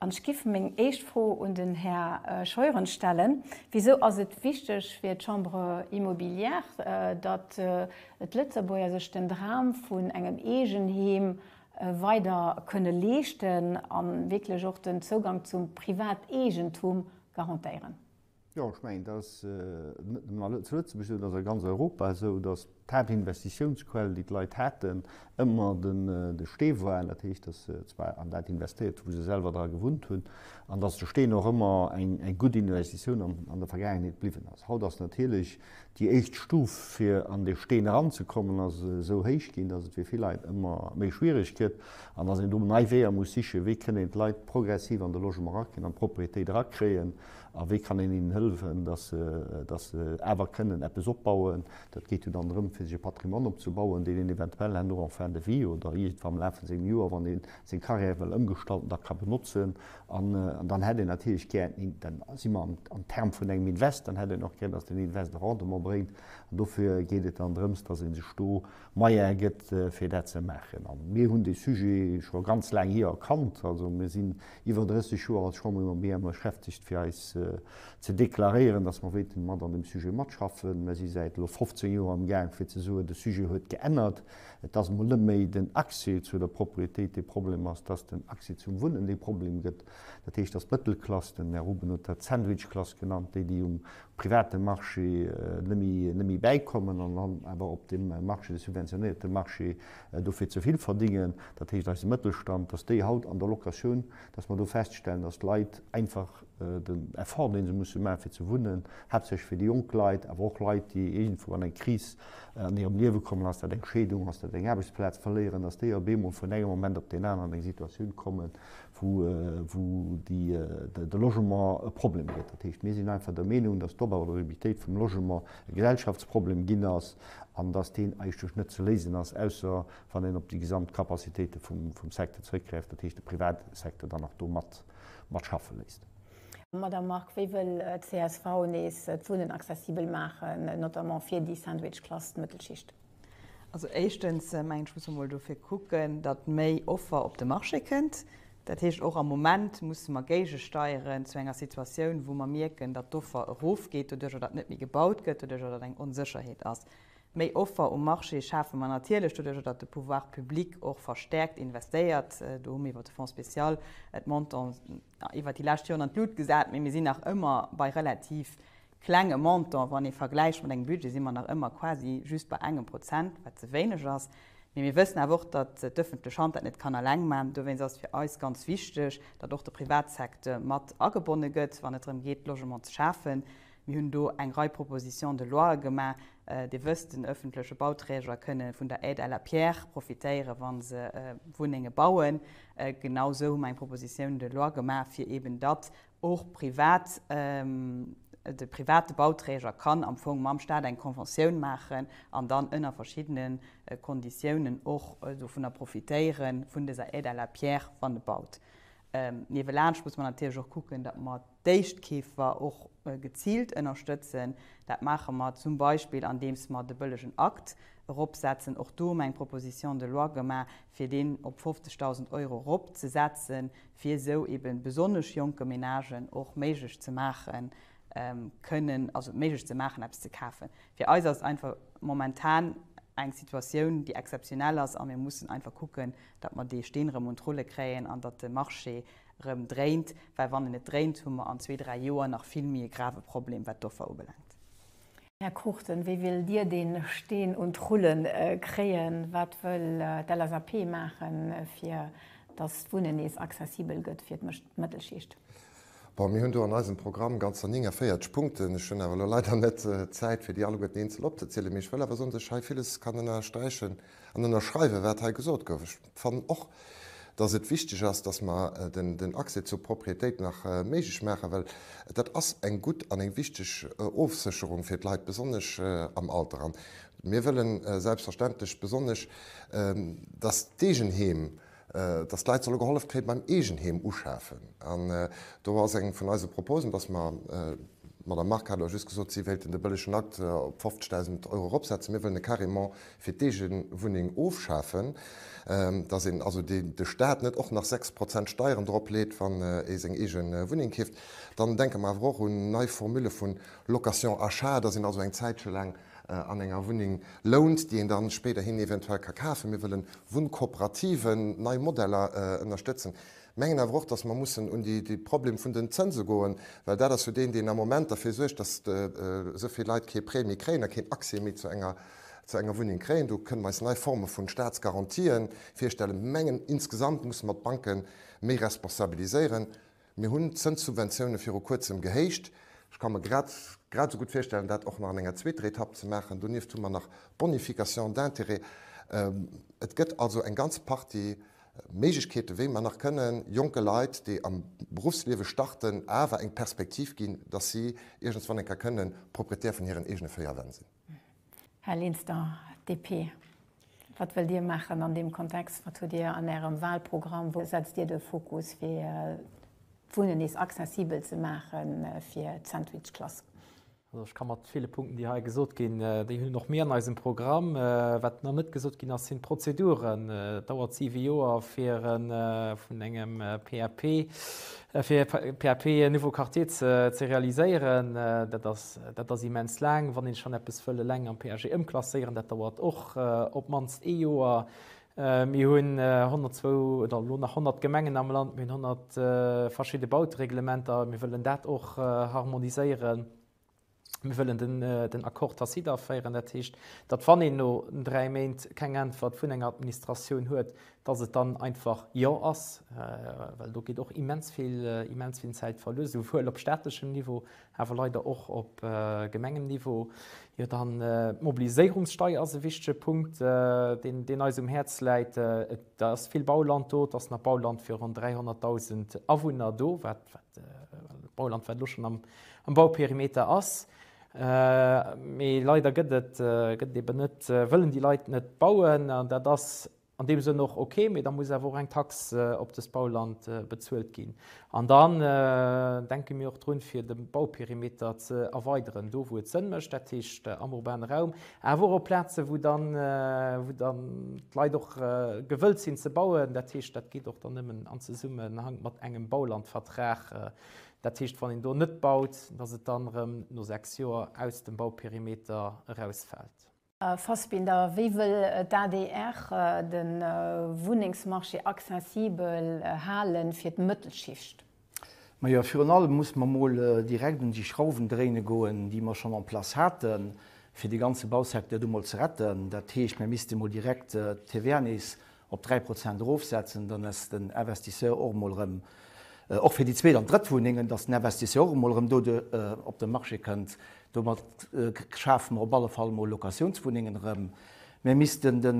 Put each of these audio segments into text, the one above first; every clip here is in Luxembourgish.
An ech giff meng éischt Fro un den Här Scheuren stellen, Wisou ass et wichteg fir d'Chambre immobilière, datt d'Lëtzebuerger sech den Dram vun engem Eegenheem weider kënne leeschten a wierklech och den Zougang zum Privateegentum garantéieren? Jo, ech mengen, dat ass net nëmme zu Lëtzebuerg esou, dat ass a ganz Europa esou, datt d'Haaptinvestitiounsquell, déi d'Leit haten, ëmmer de Stee war. Dat heescht, datt se zwar an dat investéiert, wou se selwer dra gewunnt hunn, an datt de Steen och ëmmer eng gutt Investitioun an der Vergaangenheet bliwwen ass. Haut ass natierlech déi éischt Stuf, fir an dee Steen eranzekommen, ass esou héich ginn, datt et fir vill Leit ëmmer méi schwiereg gëtt an datt een do nei Weeër muss sichen, wéi kënnt een d'Leit progressiv an de Logement erakréien, an d'Propriétéit erakréien. A wéi kann een hinnen hëllefen, datt se awer kënnen eppes opbauen? Dat geet jo dann drëm, fir sech e Patrimoine opzebauen, deen een eventuell herno en fin de vie oder iergendwa am Laf vu sengem Joer, wann ee seng Carrière wëll ëmgestalten, da ka benotzen. An dann hätt een natierlech gär, dann si mer am Term vun engem Invest, dann hätt een och gär, datt den Invest e Rendement bréngt. An dofir geet et dann drëms, datt ee sech do Moyen gëtt fir dat ze maachen. A mir hunn dee Sujet scho ganz laang hir erkannt. Also mir sinn iwwer 30 Joer als Chambre immobilière mat beschäftegt fir eis ze deklaréieren, datt mer wéilten mat an deem Sujet matschaffen. Mer si säit elo 15 Joer am Gaang fir ze soen, de Sujet huet geännert. Et ass emol net méi den Accès zu der Propriétéit dee Problem ass, et ass den Accès zum Wunnen dee Problem gëtt. Dat heescht, datt d'Mëttelklass, den Här Rubenoth hat d'Sandwichklass genannt, déi déi um private Marché net méi bäikommen an dann awer op deem Marché, de subventionéierte Marché, dofir ze vill verdingen, dat heescht eise Mëttelstand, dass déi haut an der Locatioun, dass mer do feststellen, dass d'Leit einfach den Effort, dee se musse maachen, fir ze wunnen, haaptsächlech fir déi jonk Leit, awer och Leit, déi iergendwou an eng Kris an hirem Liewe kommen, ass dat eng Scheedung, ass dat eng Aarbechtsplaz verléieren, dass déi op eemol vun engem Moment op deen aneren an eng Situatioun kommen, wou de Logement e Problem gëtt. Dat heescht, mir sinn einfach der Meenung, dass d'Opabordabilitéit vum Logement e Gesellschaftsproblem ginn ass an dass deen eigentlech net ze léisen ass, ausser wann een op déi gesamt Capacitéite vum Secteur zrëckgräift, dat heescht de Privatsecteur dann nach do mat schaffe léisst. Madamm Margue, wéi wëll d'CSV nees d'Wunnen accessibel maachen, notamment fir déi Sandwich-Klass, d'Mëttelschicht? Also éischtens mengen ech, muss mer mol dofir kucken, datt méi Offer op de Marché kënnt. Dat heescht, och am Moment musse mer géigesteieren zu enger Situatioun, wou mer mierken, datt d'Offer erofgeet doduerjer, datt net méi gebaut gëtt, doduerjer, datt eng Onsécherheet ass. Méi Offer um Marché schafe mer natierlech doduerjer, datt de Pouvoir public och verstärkt investéiert. Do hu mir iwwer de Fonds spécial et Montants iwwer déi lescht Joren an d'Lut gesat, mä mir sinn nach ëmmer bei relativ klenge Montant, wann ee vergläicht mat engem Budget, si mer nach ëmmer quasi just bei engem Prozent, wat ze wéineg ass. Mee mir wëssen awer och, datt d'ëffentlech Hand dat net kann eleng man. Dowéinst ass et fir eis ganz wichteg, datt och de Privatsecteur mat agebonne gëtt, wann et drëm geet, Logement ze schafen. Mir hunn do eng Rei Propositions de loie gemaach. Dir wësst, den ëffentleche Bauträger kënne vun der Aide à la pierre profitéieren, wa se Wunnenge bauen. Genau esou hu mer eng Proposition de loi gemaach, fir eeben datt Och privat, de private Bauträger kann am Fong mam Staat eng Conventioun maachen an dann ënner verschiddene Konditiounen och dovunner profitéieren, vun dëser Aide à la pierre, wann e baut. Niewelaanscht muss mer natierlech och kucken, datt mer d'Éischtkeefer och geziilt ënnerstëtzen. Dat maache mer zum Beispill, andeems mer de bëllegen Akt eropsetzen. Och do hu mer eng Proposition de loi gemaach, fir deen op 50.000 Euro eropzesetzen, fir esou eben besonnesch jonke Ménagen och méiglech ze maachen, kënnen, also méiglech ze maachen eppes ze kafen. Fir eis ass et einfach momentan eng Situatioun déi exzeptionell ass a mir mussen einfach kucken, datt mer dee Steen erëm un d'Rulle kréien an datt de Marché erëm dréint, well wann en net dréint, hu mer an zwee, dräi Joer nach vill méi e grave Problem wat d'Offer ubelaangt. Här Cruchten, wéi wëllt Dir dee Steen un d'Rulle kréien? Wat wëll d'LSAP maachen, fir datt d'Wunnen nees accessibel gëtt fir d'Mëttelschicht? Bon, mir hunn do an eisem Programm ganzer 49 Punkten. Ech hunn awer elo leider net d'Zäit, fir déi alleguerten eenzel opzezielen. Mee ech wëll awer soen, dass ech hei villes kann ënnersträichen an ënnerschreiwen, wat hei gesot gouf. fannen och, dass et wichteg ass, dass mer den Accès zur Propriétéit nach méiglech maachen, well dat ass eng gutt an eng wichteg Ofsécherung fir d'Leit, besonnesch am Alter. An mir wëllen selbstverständlech besonnesch, dass d'Eegenheem, dass d'Leit solle gehollef kréie beim Eegenheem uschafen. An do ass eng vun eise Proposen, dass mer, d'Madame Margue hat elo just gesot, si wéilten de bëllegen Akt op 50.000 Euro eropsetzen, mir wëllen e carrément fir d'Eegewunneng ofschafen, dass een also de Staat net och nach 6 Prozent Steieren drop leet, wann ee seng eege Wunneng keeft. Dann denke mer awer och un nei Formule vu Location achat, dass een also eng Zäitche laang an enger Wunneng lount, déi een da spéiderhin eventuell ka kafen. Mir wëllen Wunnkooperativen, nei Modeller ënnerstëtzen. Mengen awer och, dass mer mussen un de Problem vun den Zënse goen, well dat ass jo deen, deen am Moment derfir suergt, dass esou vill Leit kee Prêt méi kréien a keen Accès méi zu enger zu enger Wunneng kréien. Do kënnen mer eis nei Forme vu Staatsgarantien virstellen. Mir mengen, insgesamt musse mer d'Banke méi responsabiliséieren. Mir hunn d'Zënssubventioune viru Kuerzem gehéicht. Ech ka mer grad grad esou gutt virstellen, dat och nach an enger zweeter Etapp ze maachen. Donieft hu mer nach d'Bonification d'intérêts. Et gëtt also eng ganz Partie Méiglechkeeten, wéi mer nach kënnen jonke Leit, déi am Beruffsliewe starten, awer eng Perspektiv ginn, dass si iergendswann eng Kéier kënnen Propriétaire vun hiren eegene véier Wänn sinn. Här Linster, DP, wat wëllt Dir maachen an deem Kontext? Wat hutt Dir an Ärem Wahlprogramm? Wou setzt Dir de Fokus fir d'Wunnen nees accessibel ze maache fir d'Sandwichklass? Also ech ka mat ville Punkten, déi hei gesot ginn, déi hunn och mir an eisem Programm. Wat nach net gesot ginn ass, sinn d'Prozeduren. Et dauert siwe Joer fir e vun engem PAP, fir e PAP Nouveau Quartier ze realiséieren. Dat ass immens laang, wann een schonn eppes wëll eleng am PAG ëmklasséieren. Dat dauert och op d'mannst ee Joer. Mir hunn 102 oder elo nach 100 Gemengen am Land, mir hunn 100 verschidde Bautereglementer, mir wëllen dat och harmoniséieren. Mir wëllen den Accord tacite aféieren. Dat heescht, datt wann een no dräi Méint keng Äntwert vun enger Administratioun huet, datt et dann einfach Jo ass, well do geet och immens vill Zäit verluer, souwuel op staatlechem Niveau awer leider och op Gemengenniveau, jo dann d'Mobiliséierungssteier ass e wichtege Punkt, deen eis um Häerz läit. Et ass vill Bauland do, et ass nach Bauland fir ronn 300.000 Awunner do, wat Bauland wat elo schonn am Bauperimeter ass, mee leider gëtt et eben net, wëllen déi Leit net bauen an dat ass, An deem Sënn och ok, mee da muss awer och eng Tax op dëst Bauland bezuelt ginn. An dann denke mir och drun, fir de Bauperimeter ze erweideren, do wou et Sënn mécht, dat heescht am urbane Raum, awer och op Plazen, wou dann d'Leit och gewëllt sinn ze bauen. Dat heescht, dat geet och dann nëmmen am Zesummenhank mat engem Baulandvertrag. Dat heescht, wann een do net baut, dass et dann erëm no sechs Joer aus dem Bauperimeter erausfält. Här Fassbinder, wéi wëll d'ADR de Wunnengsmarché accessibel hale fir d'Mëttelschicht? Majo, virun allem muss mer emol direkt un déi Schrauwen dréine goen, déi mer schonn en place haten, fir dee ganze Bausecteur do emol ze retten. Dat heescht, mir misste emol direkt d'TVA nees op 3 Prozent erofsetzen, dann ass den Investisseur och emol erëm, och fir déi zweet an drëtt Wunnengen, dass den Investisseur och emol erëm do op de Marché kënnt. Domat schafe mer op alle Fall emol Locatiounswunnengen erëm. Mir missten de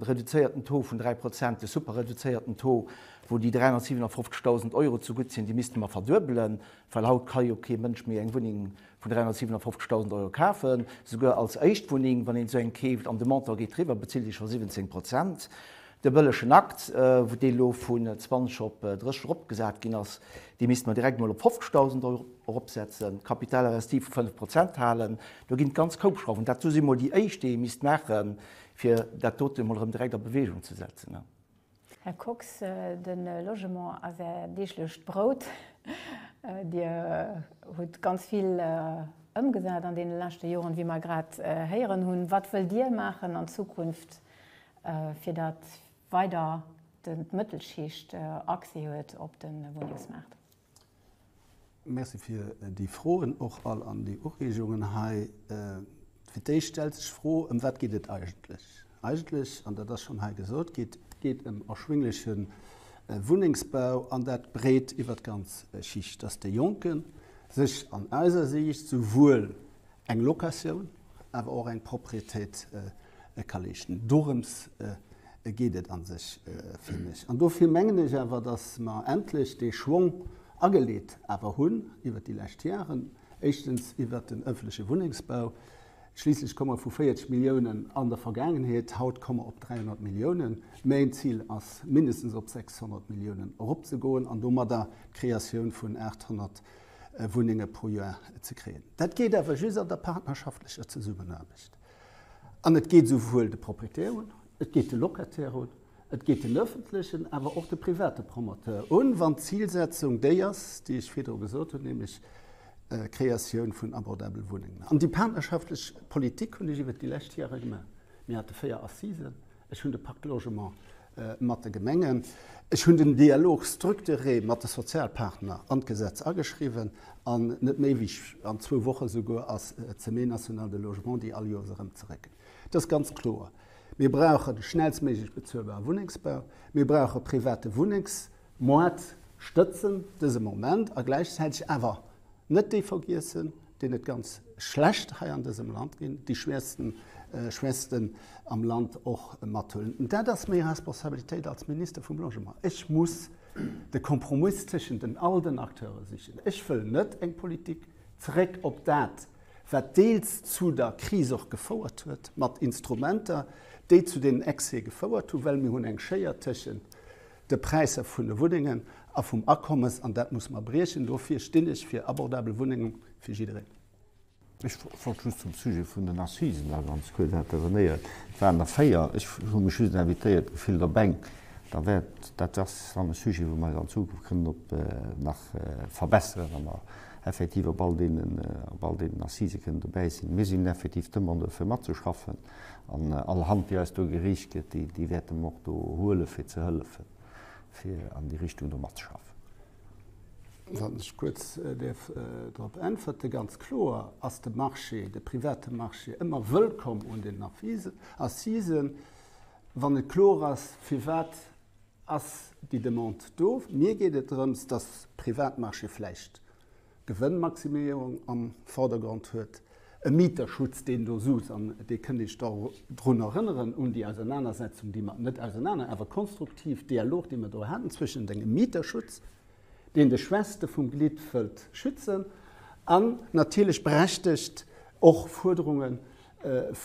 reduzéierten Taux vun 3 Prozent, de superreduzéierten Taux, wou déi 357.000 Euro zegutt sinn, dee misste mer verduebelen, well haut ka jo kee Mënsch méi eng Wunneng Vun 357.000 Euro kafen. Souguer als Éischtwunneng, wann een esou eng keeft an de Montant geet driwwer, bezilt ee scho 17 Prozent. De bëllegen Akt, wou dee lo vun 20 op 30 eropgesat ginn ass, dee misste mer direkt emol op 50.000 Euro eropsetzen. Capital investit vu 5 Prozent halen. Do ginn et ganz koup Schrauwen. Dat do si mol déi éischt, déi ee misst maachen, fir dat dote mol erëm direkt a Bewegung ze setzen. Här Kox, de Logement ass Är deeglecht Brout. Dir hutt ganz vill ëmgesat an deene leschte Joren, wéi mer grad héieren hunn. Wat wëllt Dir maachen an Zukunft, fir datt weider d'Mëttelschicht Accès huet op de Wunnengsmaart? Merci fir déi Froen och all an déi Ureegungen hei. Fir d'éischt stellt sech d'Fro, ëm wat geet et eigentlech? Eigentlech, an dat ass schonn hei gesot gi, geet ëm erschwingleche Wunnengsbau, an dat breet iwwert d'ganz Schicht, dass de Jonke sech an eiser Siicht souwuel eng Locatioun, awer och eng Propriétéit ka leeschten. Dorëms geet geet et a sech fir mech. An dofir mengen ech awer, datt mer endlech dee Schwong ageleet awer hunn iwwert déi lescht Jaren, éischtens iwwert den ëffentleche Wunnengsbau, schliisslech komme mer vu 40 Milliounen an der Vergaangenheet, haut komme mer op 300 Milliounen, mäin Zil ass, mindestens op 600 Milliounen eropzegoen an domadder d'Kreatioun vun 800 Wunnenge pro Joer ze kréien. Dat geet awer just an der partnerschaftlecher Zesummenaarbecht. An et geet esouwuel de Proprietär un, et geet de Locataire un, et geet den öffentlechen, awer och de private Promoteur un, wann d'Zilsetzung déi ass, déi ech virdru gesot hunn, nämlech d'Kreatioun vun abordabele Wunnengen. An déi partnerschaftlech Politik hunn ech iwwert déi lescht Jahre gemaach. Mir hate véier Assisen. Ech hunn de Parc Logement mat de Gemengen. Ech hunn den Dialog structuré mat de Sozialpartner an d'Gesetz ageschriwwen an net méi wéi an zwou Woche souguer ass d'Semaine nationale de logement, déi all Joers erëm zeréckkënnt. Et ass ganz kloer, Mir brauchen schnellstméiglech bezuelbare Wunnengsbau, mir brauche private Wunnengs-, Moart stëtzen dëse Moment a gläichzäiteg awer net déi vergiessen, deen et ganz schlecht hei an dësem Land ginn, déi Schwächsten am Land och mathuelen. An dat ass meng Responsabilitéit als Minister vum Logement. Ech muss de Kompromiss tëschent den all den Acteure sichen. Ech wëll net eng Politik, zeréck op dat, wat deels zu der Kris och gefouert huet, mat Instrumenter, déi zu deenen Excès gefouert hunn, well mir hunn eng Schéier tëschent de Präisser vun de Wunnengen a vum Akommes, an dat musse mer briechen. Dofir stinn ech fir abordabel Wunnenge fir jiddereen. Ech wollt just zum Sujet vun den Assisen da ganz kuerz intervenéieren. Et waren der véier. Ech hu mech just invitéiert gefillt op eng. Da wäert, dat ass dann e Sujet, wou mer an Zukunft kënnen op nach verbesseren, wa mer effektiv op all deenen, op all deenen Assise kënnen dobäi sinn. Mir sinn effektiv d'Demandeur fir matzeschaffen. An all Hand, déi eis do gereecht gëtt, déi, déi wäerte mer och do huelen, fir ze hëllefen, fir an déi Richtung do matzeschaffen. Wann ech kuerz däerf drop äntwerte, ganz kloer ass de Marché, de private Marché ëmmer wëllkomm un den Avisen, Assisen, wann net kloer ass, firwat ass déi Demande do. Mir geet et drëms, dass Privatmarché vläicht Gewënnmaximéierung am Vordergrond huet, e Mieterschutz, deen do sus, an dee kënnt ee sech da drun erënneren, un déi Ausernanersetzung, déi mer, net ausernaner, awer konstruktiv, Dialog, dee mer do haten zwëschent engem Mieterschutz, deen de Schwächste vum Glidd wëllt schützen, an natierlech berechtegt och Fuerderungen,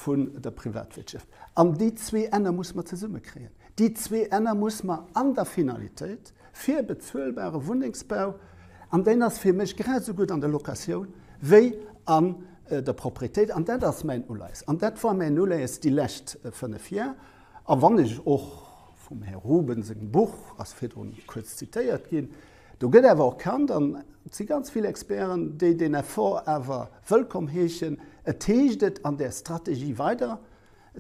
vun der Privatwirtschaft. An déi zwee Enner muss mer zesummekréien. Déi zwee Enner muss mer an der Finalitéit fir bezuelbare Wunnengsbau, an deen ass fir mech grad esou gutt an der Locatioun wéi an der Proprietéit, an dat ass mäin Uleies an dat war mäin Uleies déi lescht fënnef Jar, a wann ech och vum Här Ruben sengem Buch, ass virdrun kuerz zitéiert ginn, Do gëtt awer och Kand, an et si ganz vill Experten, déi deen Effort awer wëllkomm heeschen. Et heescht et an där Strategie weider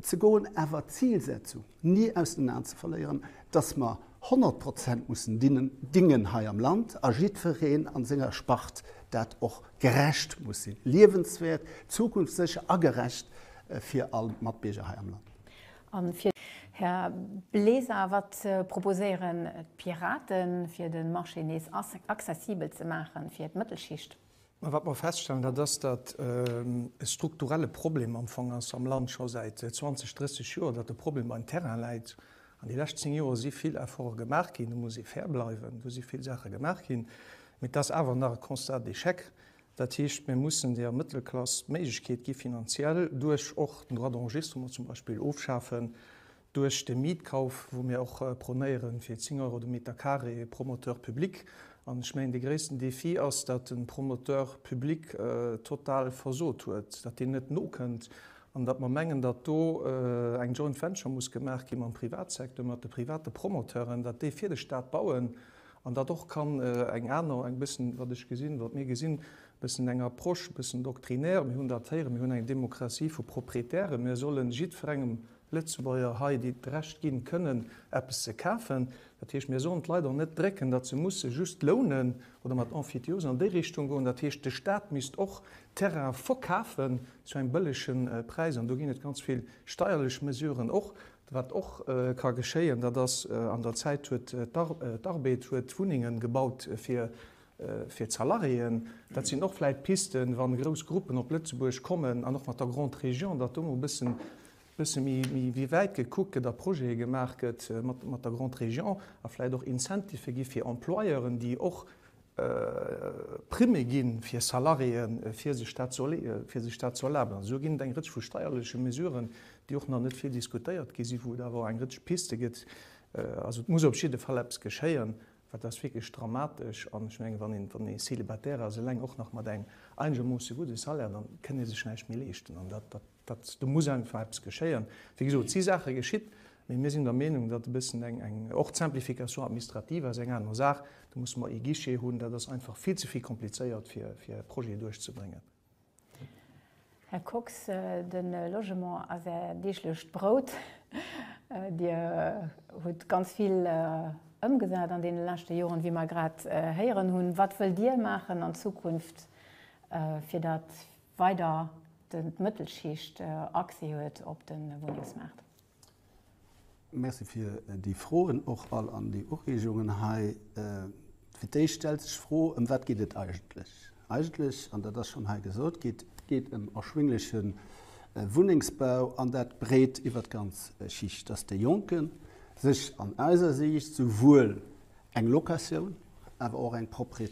ze goen, awer d'Zilsetzung ni aus den Aen ze verléieren, datt mer 100 Prozent mussen dingen hei am Land a jiddwereen an senger Spart dat och gerecht muss sinn, liewenswäert, zukunftssécher a gerecht fir all Matbierger hei am Land. Här Bleser, wat proposéieren d'Piraten, fir de Marché nees accessibel ze maachen fir d'Mëttelschicht? Wat mer feststellen, dat ass, datt e strukturelle Problem am Fong ass am Land, scho säit 20, 30 Joer, datt de Problem beim Terrain läit. An déi lescht zéng Joer si vill Efforte gemaach ginn, do muss ee fair bleiwen, do si vill Saache gemaach ginn, mee et ass awer nach e Constat d'échec, Dat heescht, mir mussen der Mëttelklass d'Méiglechkeet gi finanziell, duerch och den Droit d'enregistrement zum Beispill ofschafen, duerch de Mietkauf, wou mir och prônéieren, fir 10 Euro de Meter carré Promoteur public. An ech mengen, dee gréissten Défi ass, datt de Promoteur public total versot huet, datt deen net nokënnt an datt mer mengen, datt do eng Joint Venture muss gemaach gi mam Privatsecteur, mat de private Promoteuren, datt déi fir de Stat bauen An dat och kann eng aner, eng bëssen, wat ech gesinn, wat mir gesinn, bëssen eng Approche, bëssen doctrinaire, mir hunn dat héieren, mir hunn eng Demokratie vu Proprietären, mir sollen jiddferengem Lëtzebuerger hei d'Recht ginn, kënnen eppes ze kafen. Dat heescht, mir sollen d'Leit och net drécken, datt se musse just lounen oder mat Emphytiose an déi Richtung goen. Dat heescht, de Stat misst och Terraine verkafen zu engem bëllegen Präis. An do ginn et ganz vill steierlech Mesuren och, Wat och ka geschéien, dat ass, an der Zäit huet d'Arbed huet Wunnengen gebaut fir fir d'Salariéen. Dat sinn och vläit Pisten, wann grouss Gruppen op Lëtzebuerg kommen an och mat der Grande Région, datt do mol e bëssen bësse méi méi méi wäit gekuckt gëtt a Projete gemaach gëtt mat mat der Grande Région a vläit och Incentife gi fir Employeuren, déi och Primme ginn, fir Salariéen, fir sech dat ze fir sech dat ze erlaben. Also do ginn et eng Rëtsch vu steierleche Mesuren, déi och nach net vill diskutéiert gi sinn, wou et awer eng Rëtsch Piste gëtt. Also et muss op jidde Fall eppes geschéien, well et ass wierklech dramatesch. An ech mengen, wann een, wann ee Célibataire ass, eleng och nach mat engem einegermoosse gudde Salaire, da kënn ee sech näischt méi leeschten. An dat, dat. Dat, do muss einfach eppes geschéien. Wéi gesot, et si Saache geschitt, mee mir sinn der Meenung, datt e bëssen eng, eng, och d'Simplification administrative ass eng aner Saach, do musse mer ee Guichet hunn, dat ass einfach vill ze vill komplizéiert, fir, fir e Projet duerchzebréngen. Här Kox, de Logement ass Är deeglecht Brout. Dir hutt ganz vill ëmgesat an deene leschte Joren, wéi mer grad héieren hunn. Wat wëllt Dir maachen an Zukunft, fir datt weider d'Mëttelschicht Accès huet op de Wunnengsmaart. Merci fir déi Froen och all an déi Ureegungen hei. Fir d'éischt stellt sech d'Fro, ëm wat geet et eigentlech? Eigentlech, an dat ass schonn hei gesot gi, geet ëm erschwingleche Wunnengsbau, an dat breet iwwert d'ganz Schicht, dass de Jonke sech an eiser Siicht souwuel eng Locatioun, awer och eng Propriété,